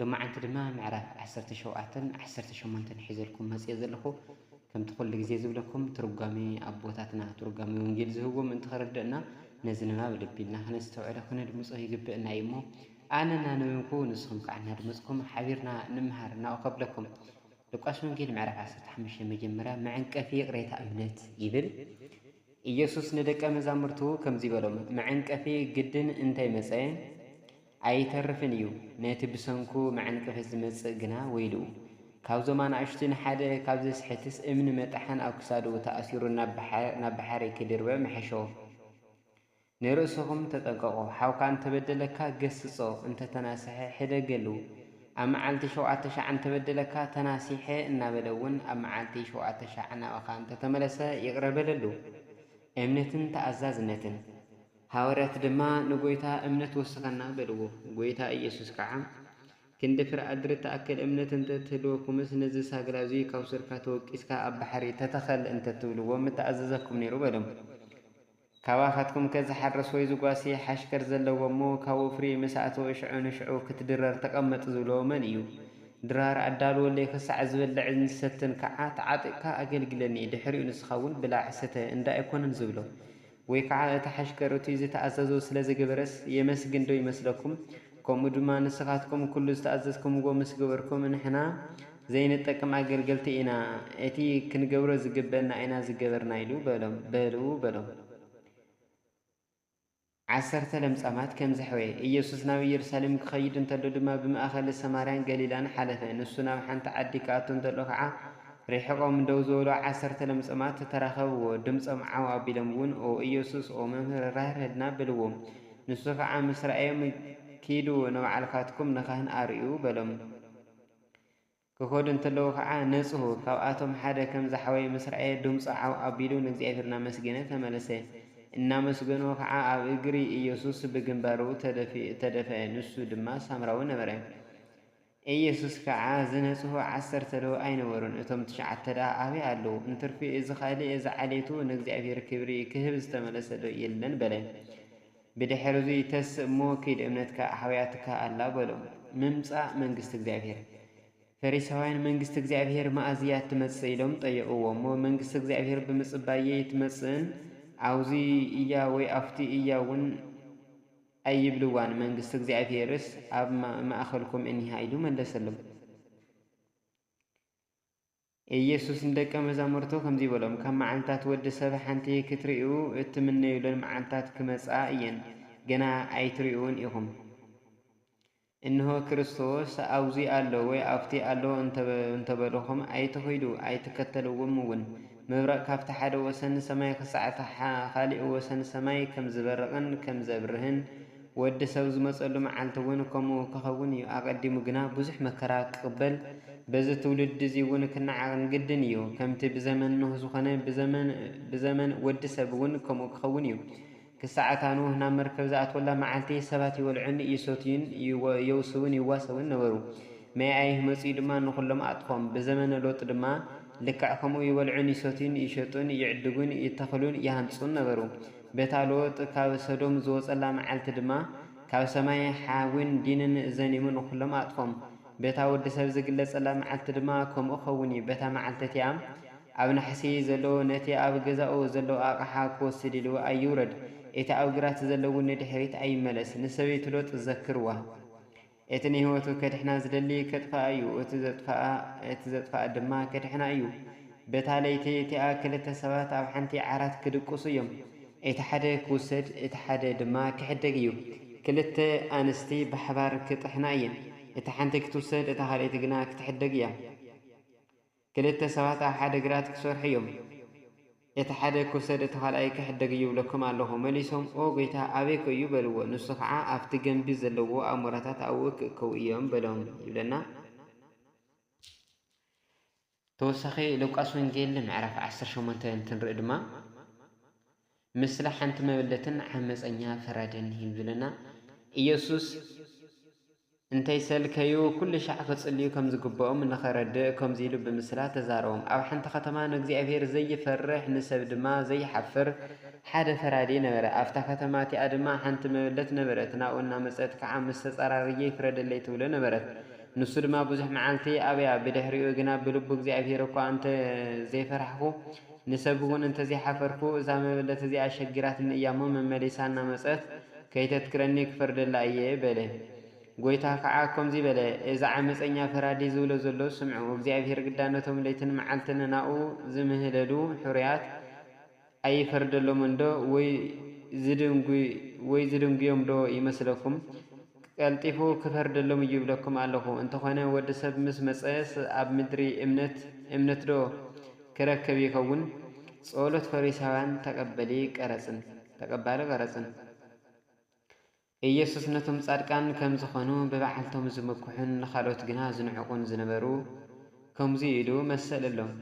ሎማዓንቲ ድማ ምዕራፍ ዓሰርተ ሸውዓተን ዓሰርተ ሸሞንተን ሒዘልኩም መጽየ ዘለኹ። ከምቲ ኩሉ ግዜ ዝብለኩም ትርጓሜ ኣቦታትና ትርጓሜ ወንጌል ዝህብዎ ምእንቲ ክርደእና ነዚ ንባብ ልቢ ኢልና ክነስተውዕሎ ክነድምጾ ይግበእና እዩ እሞ ኣነ እናነበንኩ ንስኹም ከኣ እናድመጽኩም ሓቢርና ንመሃር ናኡ ከብለኩም ሉቃስ ወንጌል ምዕራፍ ዓሰርተ ሓሙሽተ መጀመርያ መዐንቀፊ ይቕሬታ እምነት ይብል ኢየሱስ ንደቀ መዛሙርቱ ከምዚ በሎም፣ መዐንቀፊ ግድን እንተይመጸ ኣይተርፍን እዩ ነቲ ብሰንኩ መዐንቅፊት ዝመጽእ ግና ወይልኡ። ካብዞም ኣናእሽቱ ንሓደ ካብ ዘስሕትስ እምኒ መጥሓን ኣብ ክሳዱ ተኣሲሩ ናብ ባሕሪ ክድርበ ምሐሾ። ንርእስኹም ተጠንቀቁ ሓውካ እንተበደለካ ገስጾ እንተተናስሐ ሕደገሉ ኣብ መዓልቲ ሸውዓተ ሻዕ እንተበደለካ ተናሲሐ እናበለ እውን ኣብ መዓልቲ ሸውዓተ ሻዕ ናባኻ እንተተመለሰ ይቅረ በለሉ። እምነትን ተኣዛዝነትን። ሃዋርያት ድማ ንጐይታ እምነት ወስኸና በልዎ። ጐይታ ኢየሱስ ከዓ ክንዲ ፍረ ኣድሪ እትኣክል እምነት እንተ ትህልወኩምስ ነዚ ሳግላ እዙይ ካብ ሱርካ ተወቂስካ ኣብ ባሕሪ ተተኸል እንተ ትብልዎ ምተኣዘዘኩም ነይሩ በሎም። ካባኻትኩምከ ዝሓርስ ወይ ዝጓሲ ሓሽከር ዘለዎ እሞ ካብ ወፍሪ ምስ ኣተወ ሽዑ ንሽዑ ክትድረር ተቐመጥ ዝብሎ መን እዩ? ድራር ኣዳልወለይ ኽሳዕ ዝበልዕን ዝሰትን ከዓ ተዓጢቕካ ኣገልግለኒ ድሕሪኡ ንስኻውን ብላዕ ስተ እንዳ ኣይኮነን ዝብሎ። ወይ ከዓ እቲ ሓሽከር እቱይ ዝተኣዘዞ ስለ ዝገበረስ የመስግን ዶ ይመስለኩም? ከምኡ ድማ ንስኻትኩም ኩሉ ዝተኣዘዝኩምዎ ምስ ገበርኩም ንሕና ዘይንጠቅም ኣገልገልቲ ኢና፣ እቲ ክንገብሮ ዝግበእና ኢና ዝገበርና ኢሉ በሎም። በሉ በሎም። ዓሰርተ ለምጻማት ከም ዘሕወየ። ኢየሱስ ናብ ኢየሩሳሌም ክኸይድ እንተሎ ድማ ብማእኸል ሰማርያን ገሊላን ሓለፈ። ንሱ ናብ ሓንቲ ዓዲ ክኣቱ እንተሎ ከዓ ርሒቖም ደው ዝበሉ ዓሰርተ ለምጸማት ተራኸብዎ፣ ድምጾም ዓው ኣቢሎም እውን ኦ ኢየሱስ፣ ኦ መምህር፣ ራህርሀልና በልዎ። ንሱ ኸዓ ምስ ረኣዮም፣ ኪዱ ንባዕልካትኩም ንካህን ኣርእዩ በሎም። ክኸዱ እንተለዉ ኸዓ ነጽሁ። ካብኣቶም ሓደ ከም ዝሓወየ ምስ ረኣየ ድምጹ ዓው ኣቢሉ ንእግዚኣብሔር እናመስገነ ተመለሰ። እናመስገኖ ኸዓ ኣብ እግሪ ኢየሱስ ብግንባሩ ተደፍኡ ተደፍአ፣ ንሱ ድማ ሳምራዊ ነበረ። ኤየሱስ ከኣ ዝነጽሁ ዓሰርተ ዶ ኣይነበሩን እቶም ትሽዓተ ደኣ ኣበይ ኣለዉ እንትርፊ እዚ ካልእ እዚ ዓሌቱ ንእግዚኣብሄር ክብሪ ክህብ ዝተመለሰ ዶ የለን በለ ብድሕርዙይ ተስእ እሞ ኪድ እምነትካ ኣሕውያትካ ኣላ በሎ ምምጻእ መንግስቲ እግዚኣብሄር ፈሪሳውያን መንግስቲ እግዚኣብሄር መኣዝ እያ እትመጽእ ኢሎም ጠየቕዎ እሞ መንግስቲ እግዚኣብሄር ብምጽባይ እየይትመጽእን ኣውዙይ እያ ወይ ኣፍቱይ እያ እውን ኣይብልዋን መንግስቲ እግዚኣብሄርስ ኣብ ማእከልኩም እኒሃ ኢሉ መለሰሎም። ኢየሱስ ንደቀ መዛሙርቱ ከምዚ በሎም፣ ካብ መዓልትታት ወዲ ሰብ ሓንቲ ክትርእዩ እትምነዩለን መዓልትታት ክመጻ እየን፣ ገና ኣይትርእዩውን ኢኹም። እንሆ ክርስቶስ ኣብዙይ ኣሎ ወይ ኣብቱይ ኣሎ እንተበሉኹም ኣይትኺዱ ኣይትከተልዎምውን። መብረቕ ካብቲ ሓደ ወሰን ሰማይ ኽሳዕ እቲ ኻሊእ ወሰን ሰማይ ከም ዝበርቕን ከም ዘብርህን፣ ወዲ ሰብ ዝመፀሉ መዓልቲውን ከምኡ ክኸውን እዩ። ኣቐዲሙ ግና ብዙሕ መከራ ክቕበል፣ በዚ ትውልዲ እዙይውን ክነዓቕን ግድን እዩ። ከምቲ ብዘመን ኖህ ዝኾነ ብዘመን ወዲ ሰብውን ከምኡ ክኸውን እዩ። ክሳዕ እታ ኖህ ናብ መርከብ ዝኣትወላ መዓልቲ፣ ሰባት ይበልዑን ይሰትዩን የውስቡን ይዋሰቡን ነበሩ። ማይ ኣይህ መጺኡ ድማ ንዅሎም ኣጥፍኦም። ብዘመነ ሎጥ ድማ ልክዕ ከምኡ ይበልዑን ይሰትዩን ይሸጡን ይዕድጉን ይተኽሉን ይሃንጹን ነበሩ። በታ ሎጥ ካብ ሰዶም ዝወጸላ መዓልቲ ድማ ካብ ሰማይ ሓዊን ዲንን ዘኒሙ ንዅሎም ኣጥፍኦም። በታ ወዲ ሰብ ዝግለጸላ መዓልቲ ድማ ከምኡ ክኸውን እዩ። በታ መዓልቲ እቲኣ ኣብ ናሕሲ ዘሎ ነቲ ኣብ ገዛኡ ዘሎ ኣቕሓ ክወስድ ኢሉ ኣይውረድ፣ እቲ ኣብ ግራት ዘሎ እውን ንድሕሪት ኣይመለስ፣ ንሰበይቱ ሎጥ ዘክርዋ። እቲ ንህይወቱ ከድሕና ዝደሊ ከጥፍኣ እዩ፣ እቲ ዘጥፍኣ እቲ ዘጥፍኣ ድማ ከድሕና እዩ። በታ ለይቲ እቲኣ ክልተ ሰባት ኣብ ሓንቲ ዓራት ክድቅሱ እዮም። እቲ ሓደ ክውሰድ እቲ ሓደ ድማ ክሕደግ እዩ። ክልተ ኣንስቲ ብሓባር ክጥሕና እየን፣ እታ ሓንቲ ክትውሰድ እታ ካልኣይቲ ግና ክትሕደግ እያ። ክልተ ሰባት ኣብ ሓደ ግራት ክሰርሑ እዮም፣ እቲ ሓደ ክውሰድ እቲ ካልኣይ ክሕደግ እዩ እብለኩም ኣለኹ። መሊሶም ኦ ጐይታ፣ ኣበይከ እዩ? በልዎ። ንሱ ኸዓ ኣብቲ ገምቢ ዘለዎ ኣሞራታት ኣብኡ ክእከቡ እዮም በሎም ይብለና። ተወሳኺ ሉቃስ ወንጌል ምዕራፍ ዓሰርተ ሸሞንተ እንትንርኢ ድማ፣ ምስላ ሓንቲ መበለትን ዓመጸኛ ፍረደኒ እዩ ዝብለና ኢየሱስ እንተይሰልከዩ ኩልሻዕ ክጽልዩ ከም ዝግብኦም ንኸረድእ ከምዚ ኢሉ ብምስላ ተዛረቦም ኣብ ሓንቲ ከተማ ንእግዚኣብሔር ዘይፈርሕ ንሰብ ድማ ዘይሓፍር ሓደ ፈራዲ ነበረ ኣብታ ከተማ እቲኣ ድማ ሓንቲ መበለት ነበረት ናብኡ እናመጸት ከዓ ምስ ተጻራርየይ ፍረደለይ ትብሎ ነበረት ንሱ ድማ ብዙሕ መዓልቲ ኣብያ ብድሕሪኡ ግና ብልቡ እግዚኣብሔር እኳ እንተ ዘይፈራሕኩ ንሰብ ውን እንተዘይሓፈርኩ እዛ መበለት እዚኣ ኣሸጊራትኒ እያሞ መመሊሳ እናመጸት ከይተትክረኒ ክፈርደላ እየ በለ። ጎይታ ከዓ ከምዙይ በለ እዚ ዓመጸኛ ፈራዲ ዝብሎ ዘሎ ስምዑ እግዚኣብሄር ግዳ ነቶም ለይትን መዓልትን ናኡ ዝምህለሉ ሕሩያት ኣይፈርደሎምን ዶ ወይ ዝድንጉዮም ዶ ይመስለኩም ቀልጢፉ ክፈርደሎም እዩ ይብለኩም ኣለኹ። እንተኾነ ወዲ ሰብ ምስ መጸስ ኣብ ምድሪ እምነት እምነትዶ ክረከብ ይኸውን? ጸሎት ፈሪሳውያን ተቀበሊ ቀረጽን ተቀባሊ ቀረጽን ኢየሱስ ነቶም ጻድቃን ከም ዝኾኑ ብበዓልቶም ዝምኩሑን ንኻልኦት ግና ዝንዕቁን ዝነበሩ ከምዙይ ኢሉ መሰለሎም።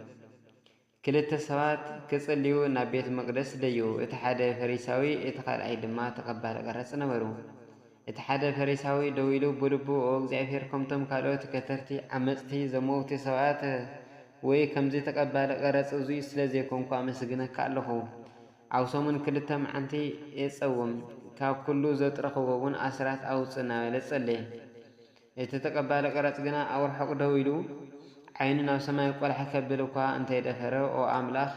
ክልተ ሰባት ክጽልዩ ናብ ቤት መቕደስ ደዩ፣ እቲ ሓደ ፈሪሳዊ፣ እቲ ኻልኣይ ድማ ተቐባሊ ቐረጽ ነበሩ። እቲ ሓደ ፈሪሳዊ ደው ኢሉ ብልቡ፣ ኦ እግዚኣብሄር፣ ከምቶም ካልኦት ከተርቲ፣ ዓመጽቲ፣ ዘመውቲ ሰባት ወይ ከምዚ ተቐባሊ ቐረጽ እዙይ ስለ ዘይኮንኩ ኣመስግነካ ኣለኹ። ኣብ ሰሙን ክልተ መዓልቲ እጸውም፣ ካብ ኩሉ ዘጥረኽዎውን ኣስራት ኣውጽእ እናበለ ጸለየ። እቲ ተቀባሊ ቀረጽ ግና ኣብ ርሑቕ ደው ኢሉ፣ ዓይኑ ናብ ሰማይ ቈላሕ ከብል እኳ እንተ ደፈረ፣ ኦ ኣምላኽ፣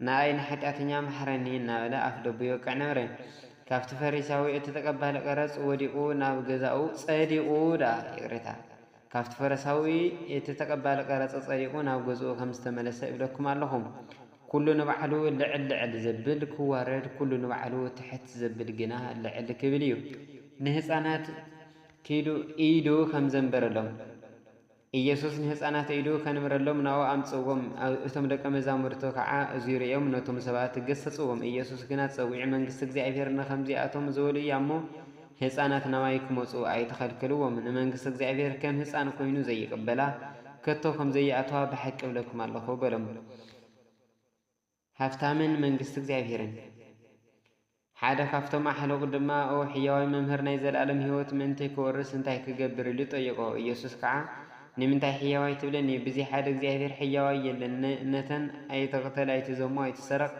ንኣይ ንሓጢኣተኛ ምሓረኒ እናበለ ኣፍደቡ ይወቅዕ ነበረ። ካብቲ ፈሪሳዊ እቲ ተቀባሊ ቀረጽ ወዲቑ ናብ ገዛኡ ጸዲቑ ደኣ ይቅሬታ ካብቲ ፈሪሳዊ እቲ ተቀባሊ ቀረጽ ጸዲቑ ናብ ገዝኡ ከም ዝተመለሰ እብለኩም ኣለኹ። ኩሉ ንባዕሉ ልዕል ልዕል ዘብል ክዋረድ ኩሉ ንባዕሉ ትሕት ዘብል ግና ልዕል ክብል እዩ። ንህጻናት ኪዱ ኢዱ ከምዘንበረሎም ኢየሱስ ንህፃናት ኢዱ ከንብረሎም ናብኡ ኣምፅእዎም እቶም ደቀ መዛሙርቱ ከዓ እዙይ ርእዮም ነቶም ሰባት ገሰፅዎም ኢየሱስ ግና ፀዊዑ መንግስቲ እግዚኣብሔር ንከምዚኣቶም ዝበሉ እያ እሞ ህፃናት ናባይ ክመፁ ኣይትኸልክልዎም ንመንግስቲ እግዚኣብሔር ከም ህፃን ኮይኑ ዘይቅበላ ከቶ ከምዘይኣትዋ ብሓቂ እብለኩም ኣለኹ በሎም። ሃብታምን መንግስቲ እግዚኣብሔርን። ሓደ ካብቶም ኣሕሉቕ ድማ ኦ ሕያዋይ መምህር ናይ ዘለኣለም ሕይወት ምእንቲ ክወርስ እንታይ ክገብር ኢሉ ጠየቖ። ኢየሱስ ከዓ ንምንታይ ሕያዋይ ትብለኒ ብዚ ሓደ እግዚኣብሔር ሕያዋይ የለን ን ነተን ኣይትቕተል ኣይትዘሙ ኣይትሰረቕ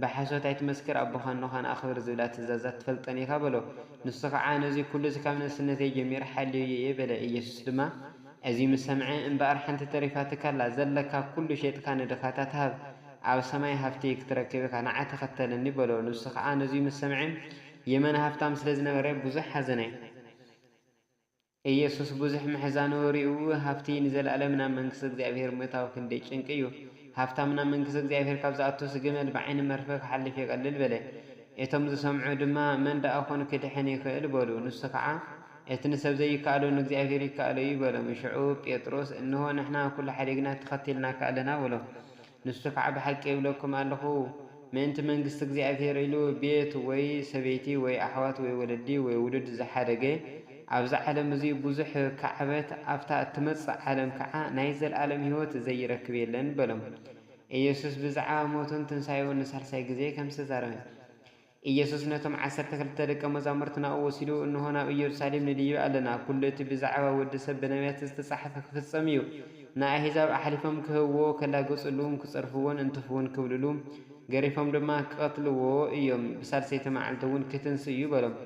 ብሓሶት ኣይትመስክር ኣቦኻን ኖኻን ኣኽብር ዝብላ ትእዛዛት ትፈልጠን ኢኻ በሎ። ንሱ ከዓ ነዙይ ኩሉስ ካብ ንእስነተይ ጀሚረ ሓልየዮ እየ በለ። ኢየሱስ ድማ እዙይ ምስ ሰምዐ እምበኣር ሓንቲ ተሪፋትካ ኣላ ዘለካ ኩሉ ሼጥካ ንድኻታት ሃብ ኣብ ሰማይ ሃፍቲ ክትረክብ ኢኻ ንዓይ ተኸተለኒ በሎ። ንሱ ኸኣ ነዙይ ምስ ሰምዐ የመን ሃፍታም ስለ ዝነበረ ብዙሕ ሓዘነ። ኢየሱስ ብዙሕ ምሕዛኑ ሪኡ ሃፍቲ ንዘለኣለም ናብ መንግስቲ እግዚኣብሔር ምእታው ክንደይ ጭንቂ እዩ። ሃፍታም ናብ መንግስቲ እግዚኣብሔር ካብ ዝኣቱስ ግመል ብዓይኒ መርፍእ ክሓልፍ ይቐልል በለ። እቶም ዝሰምዑ ድማ መን ደኣ ኾን ክድሕን ይኽእል በሉ። ንሱ ኸዓ እቲ ንሰብ ዘይከኣሎ ንእግዚኣብሔር ይከኣሎ እዩ በሎም። ሽዑ ጴጥሮስ እንሆ ንሕና ኩሉ ሓዲግና ተኸቲልናካ ኣለና በሎ። ንሱ ኸኣ ብሓቂ እብለኩም ኣለኹ፣ ምእንቲ መንግስቲ እግዚኣብሄር ኢሉ ቤት ወይ ሰበይቲ ወይ ኣሕዋት ወይ ወለዲ ወይ ውሉድ ዝሓደገ፣ ኣብዚ ዓለም እዚ ብዙሕ ኪዓበት፣ ኣብታ እትመጽእ ዓለም ከኣ ናይ ዘለኣለም ህይወት ዘይረክብ የለን በሎም። ኢየሱስ ብዛዕባ ሞቱን ትንሳኤኡን ንሳልሳይ ግዜ ከም ዝተዛረበ። ኢየሱስ ነቶም ዓሰርተ ክልተ ደቀ መዛሙርቲ ናብኡ ወሲዱ፣ እንሆ ናብ ኢየሩሳሌም ንድይብ ኣለና፣ ኵሉ እቲ ብዛዕባ ወዲ ሰብ ብነብያት ዝተጻሕፈ ክፍጸም እዩ፣ ንኣሕዛብ ኣሕሊፎም ክህብዎ፣ ከላግጽሉን ክጸርፍዎን እንትፍውን ክብልሉ፣ ገሪፎም ድማ ክቐትልዎ እዮም፣ ብሳልሰይቲ መዓልቲ እውን ክትንሥእ እዩ በሎም።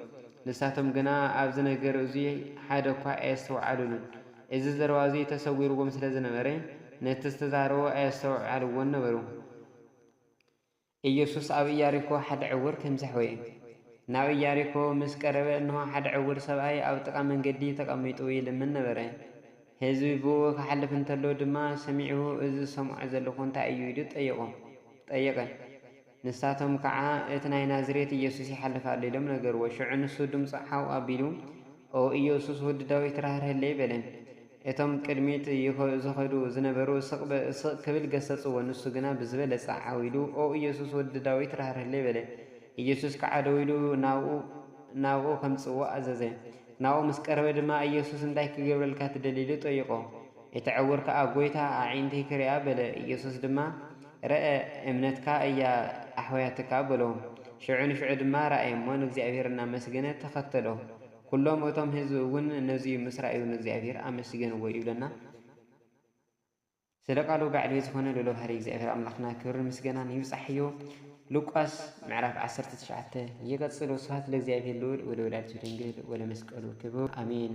ንሳቶም ግና ኣብዚ ነገር እዙይ ሓደ እኳ ኣየስተውዓሉሉን። እዚ ዘረባ እዙይ ተሰዊርዎም ስለ ዝነበረ፣ ነቲ ዝተዛረቦ ኣየስተውዓልዎን ነበሩ። ኢየሱስ ኣብ ኢያሪኮ ሓደ ዕውር ከም ዘሕወየ። ናብ ኢያሪኮ ምስ ቀረበ እንሆ ሓደ ዕውር ሰብኣይ ኣብ ጥቃ መንገዲ ተቀሚጡ ይልምን ነበረ። ሕዝቢ ብእኡ ክሓልፍ እንተሎ ድማ ሰሚዑ እዚ ዝሰምዖ ዘለኹ እንታይ እዩ ኢሉ ጠየቁ ጠየቀ። ንሳቶም ከዓ እቲ ናይ ናዝሬት ኢየሱስ ይሓልፍ ኣሎ ኢሎም ነገርዎ። ሽዑ ንሱ ድምጹ ዓው ኣቢሉ ኦ ኢየሱስ ወዲ ዳዊት ራህርህለይ በለ። እቶም ቅድሚት ዝኸዱ ዝነበሩ ስቕ ስቕ ክብል ገሰጽዎ፣ ንሱ ግና ብዝበለጸ ዓው ኢሉ፣ ኦ ኢየሱስ፣ ወዲ ዳዊት፣ ራህርህለይ! በለ። ኢየሱስ ከኣ ደው ኢሉ ናብኡ ናብኡ ከምጽእዎ ኣዘዘ። ናብኡ ምስ ቀረበ ድማ፣ ኢየሱስ፣ እንታይ ክገብረልካ ትደሊ? ኢሉ ጠይቖ። እቲ ዕዉር ከኣ፣ ጐይታ፣ ኣዒንተይ ክርእያ፣ በለ። ኢየሱስ ድማ፣ ርኣ፣ እምነትካ እያ ኣሕውያትካ፣ በሎ። ሽዑ ንሽዑ ድማ ረኣየ እሞ ንእግዚኣብሔር እናመስገነ ተኸተሎ። ኵሎም እቶም ህዝቢ እውን ነዙይ ምስ ረኣዩ ንእግዚኣብሄር ኣመስገንዎ ይብለና። ስለ ቃሉ ባዕሉ እዩ ዝኾነ ልኡለ ባህሪ እግዚኣብሔር ኣምላኽና ክብርን ምስገናን ይብጻሕዮ። ሉቃስ ምዕራፍ ዓሰርተ ትሽዓተ ይቕጽል። ወስብሐት ለእግዚኣብሔር ልዑል ወለወላዲቱ ድንግል ወለመስቀሉ ክቡር ኣሜን።